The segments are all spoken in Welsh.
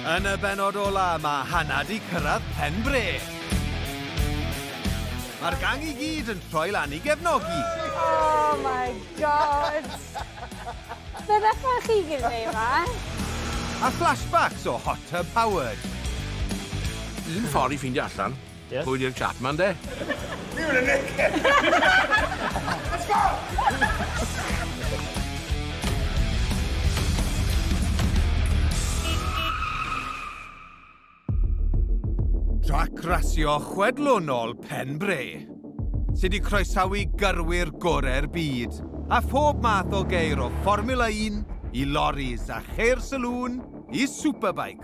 Yn y benod ola, mae Hannah di cyrraedd pen bre. Mae'r gang i gyd yn troi lan i gefnogi. Oh my god! Fe ddechrau chi gyd neu yma? A flashbacks o Hot Tub Howard. Un ffordd i ffeindio allan Yes. Pwy di'r chap man de? Fi yw'r Nick! Let's go! Trac rasio chwedlonol Pen Bre, sydd wedi croesawu gyrwyr gorau'r byd a phob math o geir o Formula 1 i loris a cheir saloon i superbikes.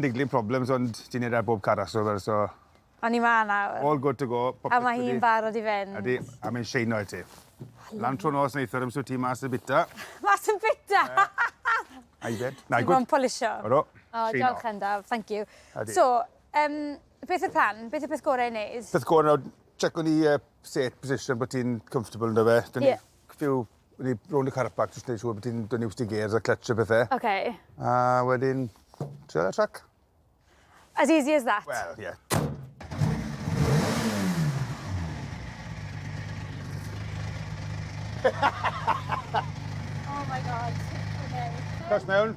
Niggling problems ond ti'n neud e ar bob car rhasio fel so... A ni 'ma nawr. All good to go popeth wedi... A ma' hi'n barod i fynd. Ydi a mae'n sheino i ti. Lan tro nos neithiwr am sut ti mas yn bita. Mas yn bita! Aeddfed. Na good. Ti mo'n polisio. Odw. O diolch Endaf, thank you. Ydi. So yym beth yw'r plan? Beth yw'r peth gore i neud? Peth gore nawr checo ni yy set position bo' ti'n comfortable 'ndo fe? Ie. Cfiw, wedi rownd y car park jyst neud siŵr bod ti'n dod iws ti gêrs a clutch a pethe. Ok. A wedyn, trio ar y trac. As easy as that? Wel, ie. Yeah. oh my god. Okay. Cos mewn.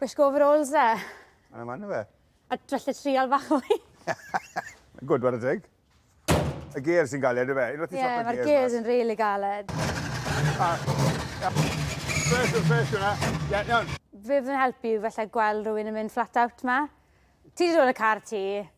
Gwisgo overalls dde. Mae'n yma na fe. A dryllu trial bach mwy. Mae'n gwrdd ar y deg. Y gears yn galed, efe? Ie, yeah, mae'r gears yn rili galed. Fresh, fresh hwnna. Ie, iawn. Fe fydd yn helpu i falle gweld rhywun yn mynd flat out ma. Ti wedi dod y car ti,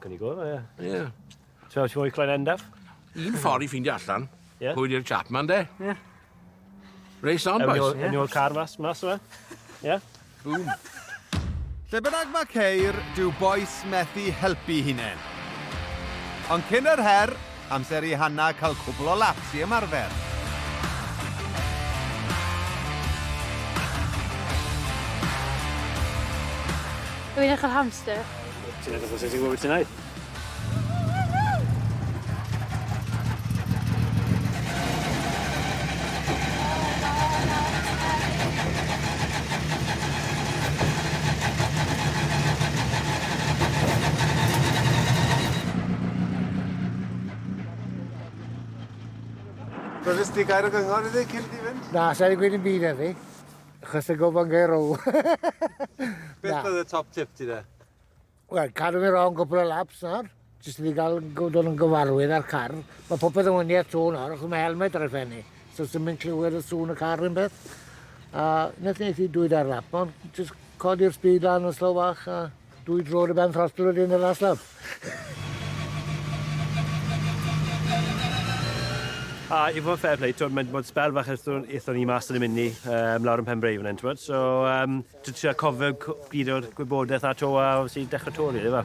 Can you go there, yeah? Yeah. So how do you want your client end up? Un ffordd i ffeindio allan, yeah. pwy di'r chap man, de? Yeah. Race on, boys. Yn yw'r car mas, mas yma. Yeah? Boom. Lle bynnag mae ceir, dyw boes methu helpu hunain. Ond cyn yr her, Amser i Hannah cael cwbl o laps i ymarfer. Dwi'n edrych ar hamster. Ti'n edrych os ydi wyt ti'n ei? Roeddus di gair o gyngor iddi cyn di fynd? Na, sa'i gweud yn byd iddi, chos y gofan gair o. Beth oedd y top tip ti de? Wel, cadw mi rong gwpl o laps nawr, jyst i gael gwrdd yn gyfarwydd â'r car. Mae popeth yn wyniad to nawr, achos mae helmet ar y ffenni, so sy'n mynd clywed y sŵn y car yn beth. A nes nes i dwyd ar lap, ond jyst codi'r speed lan yn slow fach a... Dwy dro ar y ben fast blood in the last lap. A i fod yn fair play, twyd, mae'n bod spel fach eithon, eithon ni mas yn y mini um, lawr yn Pembrey fan hyn, twyd. So, um, dwi'n trio cofio gyd o'r gwybodaeth a to a sy'n dechrau to, rili, really,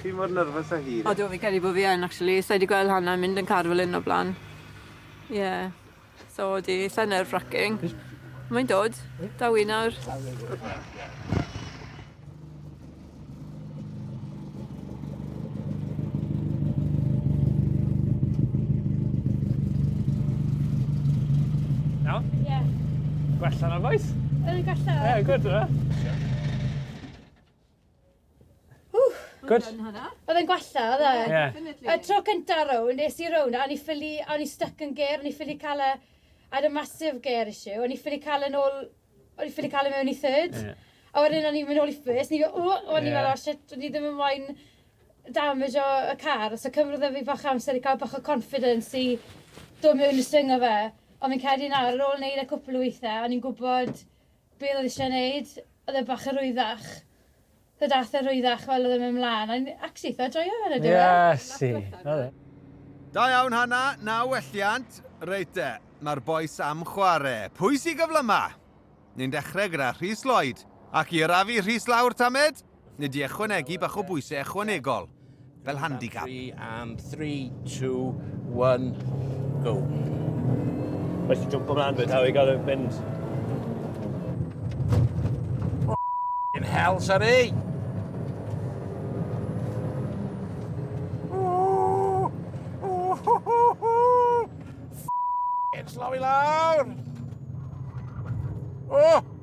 Chi mor nervous a hi. Odw fi credu bo fi yn actually sai di gweld Hanna yn mynd yn car fel hyn o bla'n. Ie. So odi sai nerve wracking. Mae'n dod. Daw i nawr. Iawn? Ie. Gwella na bois? Yn gwella. Ie good yfe? Ww! Good? Oedd e'n gwella, oedd e? Ie. Y tro cynta rownd, es i rownd, a o'n i ffili, a o'n i stuck yn ger, o'n i ffili cael e, I had a massive ger issue, o'n i ffili cael e'n ôl, o'n i ffili cael e mewn i third. Ie. A wedyn o'n i'n mynd ôl i first, ni fel, ww, o'n i fel, oh shit, o'n i ddim yn moyn damage o y car, so cymryd e fi bach amser i cael bach o confidence i dod mewn i swing o fe. Ond fi'n credu nawr, ar ôl wneud e cwpl o weithiau, o'n i'n gwybod be oedd o eisiau wneud, oedd e bach yn rwyddach, so daeth e'n rwyddach fel oedd e'n mynd mlaen, a ni actually eitha joio fe yn y diwedd. Ie, si, oedd e. Da iawn Hannah, naw welliant. Reit de, mae'r bois am chware. Pwy sy gyflyma? Ni'n dechrau gyda Rhys Lloyd. Ac i arafu Rhys lawr, Tamed? Nid i ychwanegu bach o bwysau ychwanegol, fel handicap. And 3, 2, 1, go. Rhaid i jump ymlaen fyd, how you gotta mynd. In hell, sorry! Slow i lawr! Oh!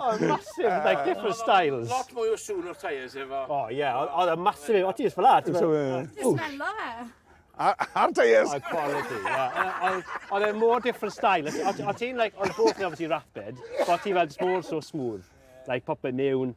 oh, massive, uh, like different styles. Lot mwy o sŵn o'r tyres efo. Oh, yeah, oedd y massive, o ti ysfa la. Just mello fe. A'r tyres. A'r quality, yeah. Oedd e more different style. O ti'n, like, oedd both yn obviously rapid, but ti fel just more so smooth. Like, popeth mewn,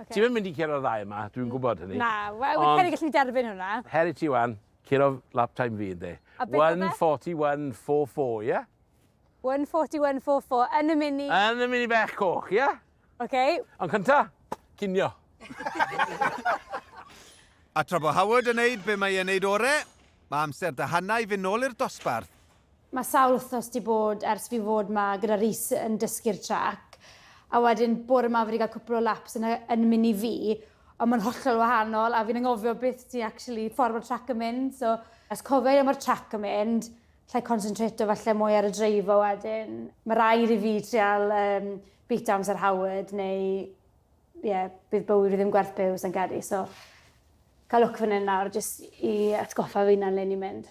Okay. Ti'n mynd i curo'r ddau yma, dwi'n gwybod hynny. Na, wel, fi'n credu gallu derbyn hwnna. Her i ti wan, curo lap time fi, ynddi. 141, 44, ie? 141, 44, yn y mini. Yn y mini bech coch, ie? Oce. Ond cynta, cinio. A tra bod Howard yn neud be mae e'n neud ore, mae amser dy hannau i fynd nôl i'r dosbarth. Mae sawl wythnos 'di bod ers fi fod 'ma gyda Rhys yn dysgu'r trac, a wedyn bore 'ma fi 'di ga'l cwpwl o laps yn y yn mini fi, ond ma'n hollol wahanol a fi'n angofio beth ti actually, ffordd ma'r trac yn mynd, so os cofio i le ma'r trac yn mynd, allai consentrato falle mwy ar y dreifo wedyn. Ma' raid i fi trial yym beat downs ar Howard neu ie, bydd bywyd fi ddim gwerth byw sai'n credu, so ca'l lwc fan 'yn nawr jyst i atgoffa fy 'unan le ni'n mynd.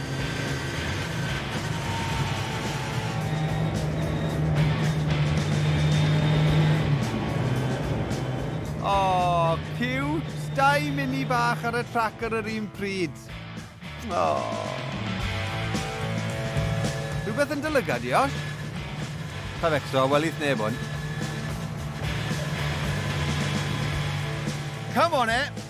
Oh, cute! Dau mini fach ar y trac ar yr un pryd. Oh. Rhywbeth yn dylygad, Josh? Pa fecso, welith neb hwn. Come on, e!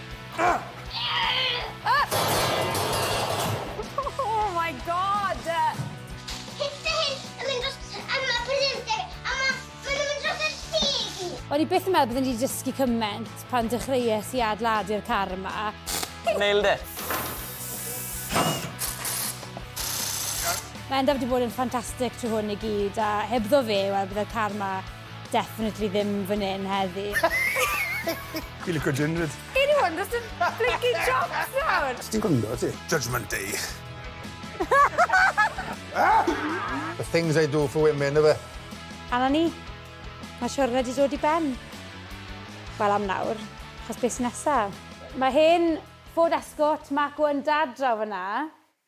O'n i byth yn meddwl byddwn i wedi dysgu cymaint pan dechreuais i adeiladu'r car yma. Nailed it! Mae Endaf wedi bod yn ffantastig trwy hwn i gyd a hebddo fe, wel, byddai'r car yma Definitely ddim fan hyn heddi. Fi lico Jindred. Anyone does yn blinky jocks nawr? Ti'n gwrando ti? Judgment Day. The things I do for women, yfe? A na ni. Mae siwrne wedi dod i ben. Wel am nawr, achos beth sy'n nesaf? Mae hen fod esgort Marco yn dad draw fanna.